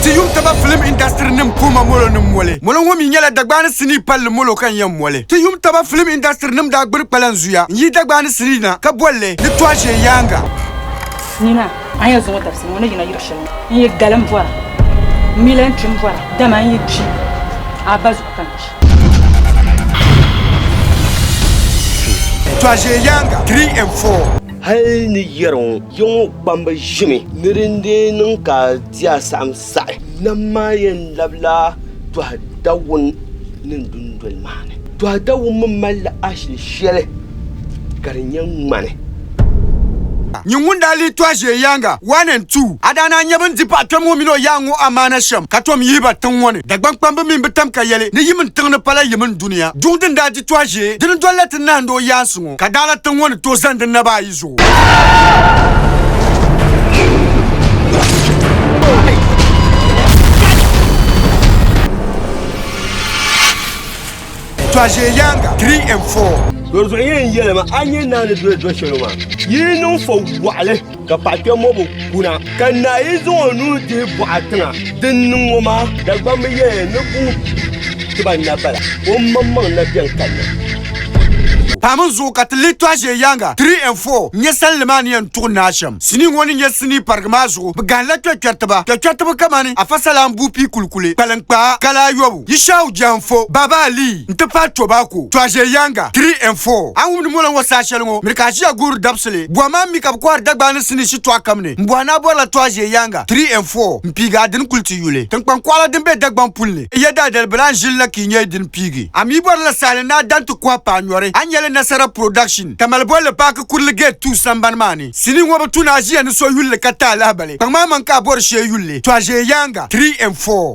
Ti yuŋ taba filim indasitiri nim puhima molo ni moli. Molo ŋɔ mi nyɛla Dagbaani sinii palli molo ka n yɛn moli. Ti yuŋ taba filim indasitiri nim daa gbiri kpalan zuya n-yihi Dagbaani sinii na ka boli li ni Tɔaʒee Yaaŋa. Sinii maa a ni yɛn zaŋ o dabisili ŋɔ ni yina yuri shɛli ŋɔ, n yi gali m-bɔra, m mi lan kpi m-bɔra, dama n yi kpi a ba zuɣu ka n kpi. Tɔaʒee Yaaŋa, Three and Four. Hal ni yɛri ŋɔ, ya ŋɔ kpamba ʒimi ni di ni deei niŋ ka. Ti a saɣim saɣi. Nam maa yɛn labila Tɔha Dawun ni dundoli maa ni. Tɔha Dawun mi malila ashili shɛli ka di nyɛ ŋmani. Nyin ŋun daa lee tɔhi ʒiɛ yaaŋa, one and two, a daa naan nya bɛ ni di paɣ kpɛm ŋɔ mini o yaaŋ ŋɔ amaana shɛm, ka tom yihi ba tiŋ ŋɔ ni. Dagbaŋ kpamba mi bi tam ka yɛli ni yimin tiŋ ni pala yimin dunia. Duŋ din daa di tɔhi ʒiɛ dini dol la ti nahindi o yaansi ŋɔ, ka daala tiŋ ŋɔ ni tooi zani di naba ayi zuɣu. Tɔʒe yanga 3 and 4. Dɔzuɣu yɛn yɛlima a nyɛ naani doli dɔshɛlo maa yi niŋ fɔ waɣili ka paɣa kpɛmmobo kuna. Ka naa yi zaŋ o nuu dihi bɔɣa tiŋa din niŋ ŋɔ maa, Dagbamba yɛya ni buu ti ba na bala, o maŋmaŋ na bɛn kanna. Pahimi n zuɣu ka ti lihi tɔɣ'ʒee yaaŋa, three and four, n nya salinli maa ni yɛn tuɣi naa shɛm sinii ŋɔ ni nyɛ sinii parigi maa zuɣu. Bɛ gahila kpɛkpɛritiba. Kpɛkpɛritiba kamani Afasalaan Buupii Kulikuli, Kpalinkpaa, Kala Ayɔbu. Yishau Jianfo, Baba Ali n ti pahi Tobacco, Tuaje Yanga, Three and Four. A wumdi mɔla ŋɔ saha shɛli ŋɔ, miri ka aʒiya guuri dabisili buɣa maa mi ka bɛ kɔhiri Dagbaŋ ni sinii shitɔɣu kam ni m-bɔhi ni a bɔrila Tuaje Yanga, Three and Four, m-piigi a dini kuli ti yuli. Tiŋkpaŋ kɔɣila din be Dagbaŋ puli ni n-yɛ daadali bilan ʒili la ka yi nya yi dini piigi. A mi bɔrila sahali ni a dan ti kɔhi paai nyɔri, a ni nya li Nasara Production, Tamale bolli paaki Kurili Gate Two sambani maa ni. Sinii ŋɔ bi tu ni aʒiya ni so yuli li ka ti alahibali. Kpaŋmaŋmaŋ ka a bɔri shee yuli li, Tuaje Yanga, Three and Four.